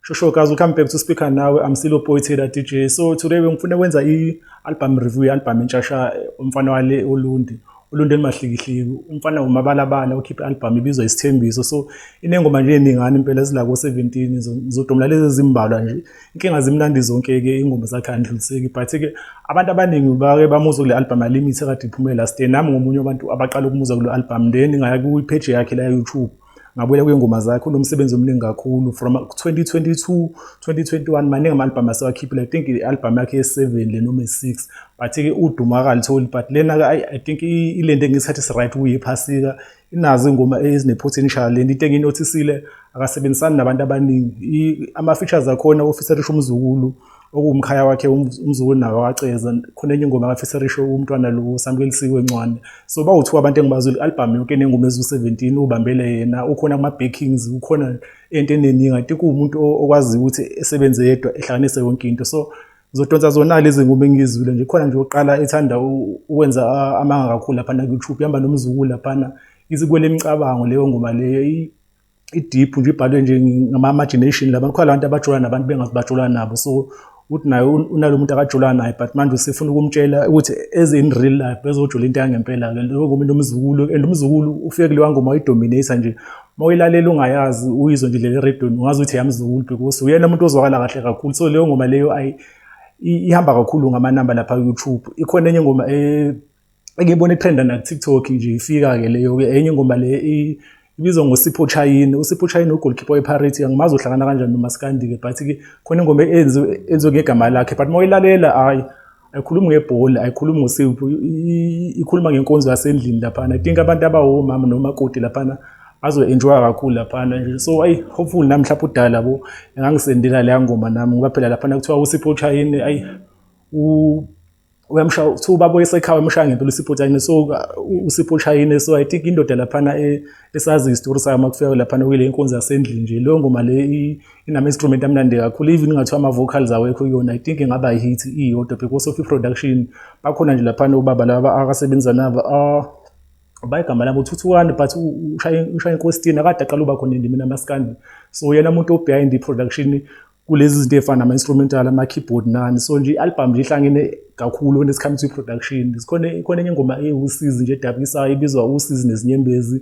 Shosho guys, welcome back to Speaker Nawe. I'm still appointed at DJ. So today ngifuna kwenza i-album review ye-album entshasha umfana wale uLundi. uLundi elimahlikihliki. Umfana umabalabala ukhiphe i-album ibizwa isithembiso. So inengoma nje eningani impela ezila ko-17 ngizodomla lezi ezimbalwa nje. inkinga zimnandi zonke-ke ingoma zakhe andluliseki but-ke abantu abaningi bake bamuzwa kule albhamu alimit ekade iphume last year nami ngomunye wabantu abaqala ukumuzwa kule albhamu then ngaya kwipheji yakhe la-youtube ngabuyela kwiy'ngoma zakhe unomsebenzi omningi kakhulu from 2022 2021 maningi ama-albhamu asewakhiphile i think i-albhamu yakhe ye-seven le noma ye-six but-ke udumo akalitholi but lena-ke i think ilento engisikhathi esi-right kuye iphasika Inazi ingoma ezinephutha enishaya le nto into enginothisile akasebenzisani nabantu abaningi ama-features akhona ofeatherisha umzukulu okuwumkhaya wakhe um, umzukulu nawo waceza khona enye ingoma akafeatherisha umntwana lo samukelisiwe ncwane so bawu-two abantu engibazile i-albhamu yonke enengoma eziwu-seventeen ubambele yena ukhona kuma-backings ukhona ento eneningi i think uwumuntu okwaziyo ukuthi esebenze yedwa ehlanganise yonke into so Zodonsa zona lezi ngoma engizwile nje khona nje oqala ethanda ukwenza amanga kakhulu lapha na YouTube ihamba nomzukulu lapha na isikwele imicabango leyo ngoma leyo i-deep nje ibhalwe nje ngama-imagination laba kukhona abantu abajula nabantu bengazi bajula nabo so uthi naye unalo muntu akajula naye but manje usefuna ukumtshela ukuthi as in real life bezojula into yangempela-ke leyo ngoma nomzukulu and umzukulu ufike kulewa ngoma wayidominate nje uma uyilalela ungayazi uyizwe nje leli redoni ungazi ukuthi yamzukulu because uyena umuntu ozwakala kahle kakhulu so leyo ngoma leyo ayi ihamba kakhulu ngamanamba lapha ku-youtube ikhona enye ingoma eh, engiyibona ithenda nakutiktok nje ifika-ke leyo-ke enye ingoma le ibizwa ngosipho chayini usipho chayini ugolkipa weparity angimazi uhlangana kanjani nomasikandi-ke but-ke khona ingoma enziwe ngegama lakhe but uma uyilalela hhayi ayikhulumi ngebhola ayikhulumi ngosipho ikhuluma ngenkonzo yasendlini laphana i think abantu abawomama nomakoti laphana bazo-enjoya kakhulu laphana nje so ayi hopefully nami mhlawumpe udala bo engangisendela leya ngoma nami ngoba phela laphana kuthiwa usipho uchayini ayi uyamshaya kuthiwa ubaba oyesekhaya umshaya ngempela usipho uchayini so usipho uchayini so i think indoda laphana e, esazi isitori sayo uma kufika laphana kuyile nkonzo yasendlini nje leyo ngoma le inama instrument amnandi kakhulu even ngathiwa ama vocals awekho kuyona i think ingaba i hit iyodwa because of i production bakhona nje lapha nobaba laba akasebenza nabo ah bayigama labo uthuthukani but ushaya ushaya inkositini akade aqala uba khona endimini amaskandi so yena umuntu obehind i production kulezi zinto efana nama instrumental ama keyboard nani so nje i album nje ihlangene kakhulu when it comes to production sikhona ikhona enye ingoma ewusizi nje edabisayo ibizwa usizi nezinyembezi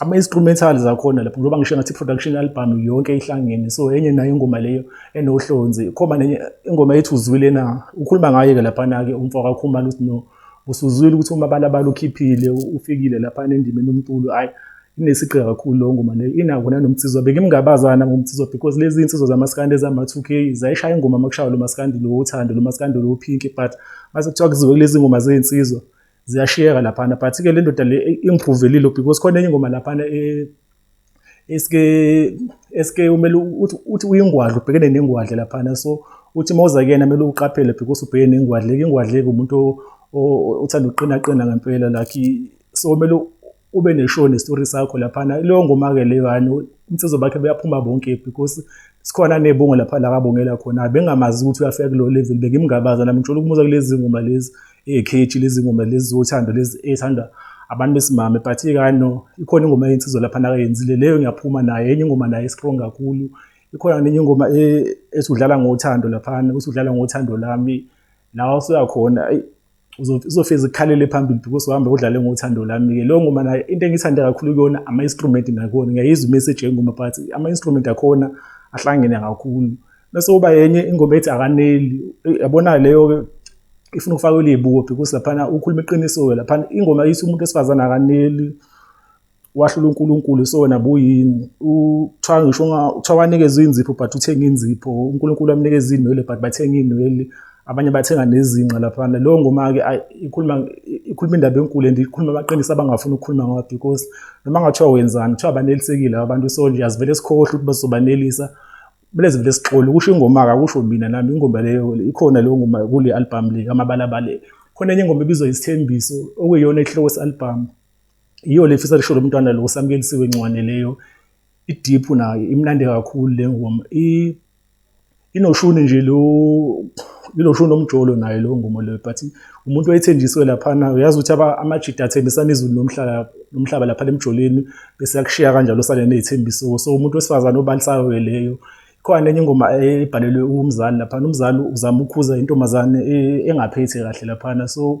ama-instrumental zakhona lapho ngoba ngisho ngathi production album yonke ihlangene so enye nayo ingoma leyo enohlonzi khoma nenye ingoma ethi uzwile na ukhuluma ngayo-ke laphana-ke umfo kakhumana uthi no usuzwile ukuthi uma balabala ukhiphile ufikile laphana endimeni umculo hhayi inesigqi kakhulu leyo ngoma leyo inako nanomnsizwa bengimngabazana ngomnsizwa because lezi iy'nsizwa zamaskandi ezama-two k zayishaya ingoma uma kushaywa lo maskandi lo wothando lo maskandi lo pinki but mase kuthiwa kuziwe kulezi ngoma zey'nsizwa ziyashiyeka laphana but ke le ndoda le ingiphuvelile because khona enye ingoma laphana eh, eske eske umele uthi uthi uyingwadla ubhekene nengwadla laphana so uthi mawuza kuyena kumele uqaphele because ubheke nengwadla ingwadla ke umuntu othanda uqina qina ngempela like so kumele ube neshow nestory sakho laphana leyo ngoma-ke leyo hani umsezo bakhe beyaphuma bonke because sikhona nebongo lapha la kabongela khona bengamazi ukuthi uyafika kulo level bengimngabaza nami ngithola ukumuza kulezi ngoma lezi ekheji lezi ngoma lezi zothando lezi ethanda abantu besimame but ikano ikhona ingoma yensizwa lapha nakayenzile leyo ngiyaphuma naye enye ingoma naye strong kakhulu ikhona nenye ingoma e, esudlala ngothando laphana usudlala ngothando lami lawa usuyakhona uzofeza ukukhalele phambili because uhamba udlale ngothando lami-ke leyo ngoma nayo into engiyithande kakhulu kuyona ama-instrument nakhona ngiyayizwa imessage yengoma but ama-instrument akhona ahlangene kakhulu bese uba yenye ingoma ethi akaneli yabona leyo ifuna ukufaka ulibuko because laphana ukhuluma iqiniso-ke laphana ingoma ithi umuntu wesifazane akaneli wahlula uNkulunkulu so wena buyini uthiwa ngisho uthiwa wanikezwa inzipho but uthenga inzipho uNkulunkulu amnikeza inwele but bathenga inwele abanye bathenga nezinqa laphana leyo ngoma-ke ikhuluma ikhuluma indaba enkulu and ikhuluma amaqiniso abangafuni ukukhuluma ngawo because noma ngathiwa wenzani kuthiwa banelisekile abantu so nje azivele sikhohle ukuthi bazobanelisa kumele zivele sixole kusho ingoma-ke akusho mina nami ingoma leyo ikhona leyo ngoma kule albhamu le kamabalabale khona enye ingoma ebizwa isithembiso okuyiyona isihloko se-albhamu Yiyo le fisa lisho lomntwana lo samkelisiwe ncwane leyo idiphu nayo imnandi kakhulu le ngoma i inoshuni nje lo iloshuni omjolo naye lo ngoma leyo but umuntu oyethenjiswe lapha na uyazi ukuthi amajida athembisana izulu nomhlaba nomhlaba lapha emjoleni bese yakushiya kanjalo sale nezithembiso so umuntu wesifazane obalisayo ke leyo khona enye ingoma ebhalelwe umzali lapha umzali uzama ukukhuza intombazane e, engaphethe kahle lapha so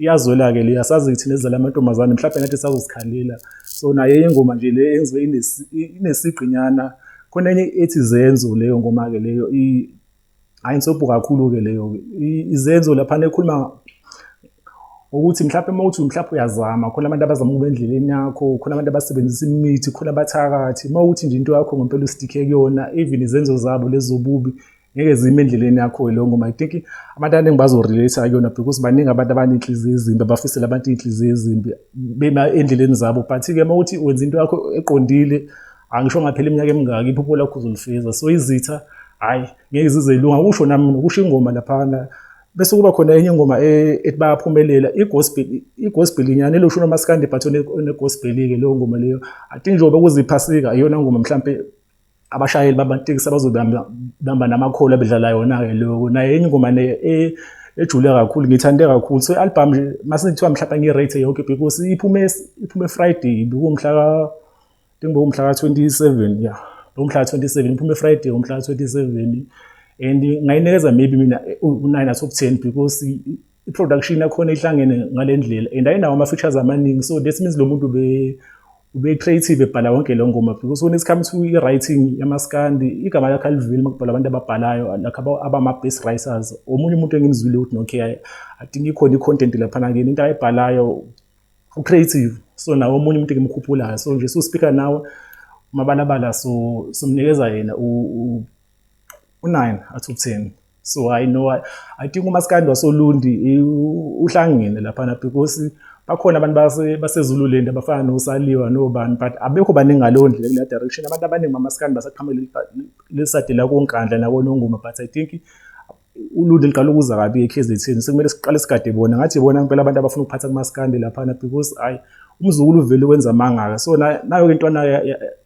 iyazwela-ke le asazi thina ezizala amantombazane mhlawumbe nathi sazozikhalela so naye ingoma nje le enziwe inesigqinyana khona enye ethi zenzo leyo ngoma-ke leyo hhayi nsobho kakhulu-ke leyo izenzo laphana ekhuluma ukuthi mhlawumbe uma uthi mhlawumbe uyazama khona abantu abazama ukuba endleleni yakho khona abantu abasebenzisa imithi khona abathakathi uma uthi nje into yakho ngempela usidikhe kuyona even izenzo zabo lezobubi ngeke zime endleleni yakho leyo ngoma i think abantu abaningi bazorelate kuyona because baningi abantu abanenhliziyo ezimbi abafisele abantu iy'nhliziyo ezimbi bema endleleni zabo but-ke uma ukuthi wenza into yakho eqondile angisho ngaphela iminyaka emingaki iphupho lakho uzolifeza so izitha hhayi ngeke zizeyilunga kusho nami nokusho ingoma laphana bese kuba khona enye ingoma e, ethi bayaphumelela i-gospel i-gospel inyana elosho unomasikandi but one-gospel-ke leyo ngoma leyo i think njengoba kuziphasika iyona ngoma mhlawumpe abashayeli bamatekisi abazobamba namakholi abedlala yona-ke loko naye enye ingoma e, ejule kakhulu ngithande kakhulu so i-album nje mase kuthiwa mhlawumbe ngi-rate yonke because iphume iphume friday bekuwumhla ka bekuwumhla ka-27 ya bekuwumhla ka-27 iphume friday umhla ka-27 and ngayinikeza maybe mina u-nine out of ten because i-production yakhona ihlangene ngale ndlela and ayinawo ama-features amaningi so that means lo muntu ube-creative ebhala wonke leyo ngoma because when it comes to i-writing yamaskandi igama lakhe aliveli uma kubhala abantu ababhalayo lakhe abama-best writers omunye umuntu engimzwile ukuthi nokay i think ikhona i-content laphana kini into ayibhalayo u-creative so nawo omunye umuntu engimkhuphulayo so nje siwuspeaker nawe umabalabala so simnikeza yena u-nine athi u-ten so i know i, I think umaskandi wasolundi uhlangene laphana because bakhona abantu basezululand abafana nosaliwa nobani but abekho baningi ngaleyo ndlela kule direction abantu abaningi bamaskandi basaqhamele lesadela konkandla nakonongoma but i think ulundi liqala ukuza kabi ekhezetheni sekumele siqale sigade bona ngathi bona ngempela abantu abafuna ukuphatha kumaskandi laphana because ayi umzukulu uvele wenza amangaka so nayo ke intwana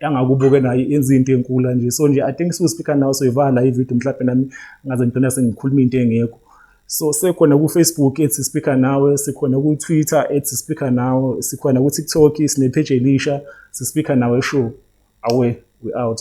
yangakubuke nayo yenza into enkulu nje so nje i think siwu speaker now soyivala la ivideo mhlawumbe nami ngaze ngigcina sengikhuluma into engekho so sekhona ku-facebook ethi speaker nawe sikhona ku-twitter ethi speaker nawe sikhona ku-tiktok sinepheji elisha sispeaker nawe show awe we out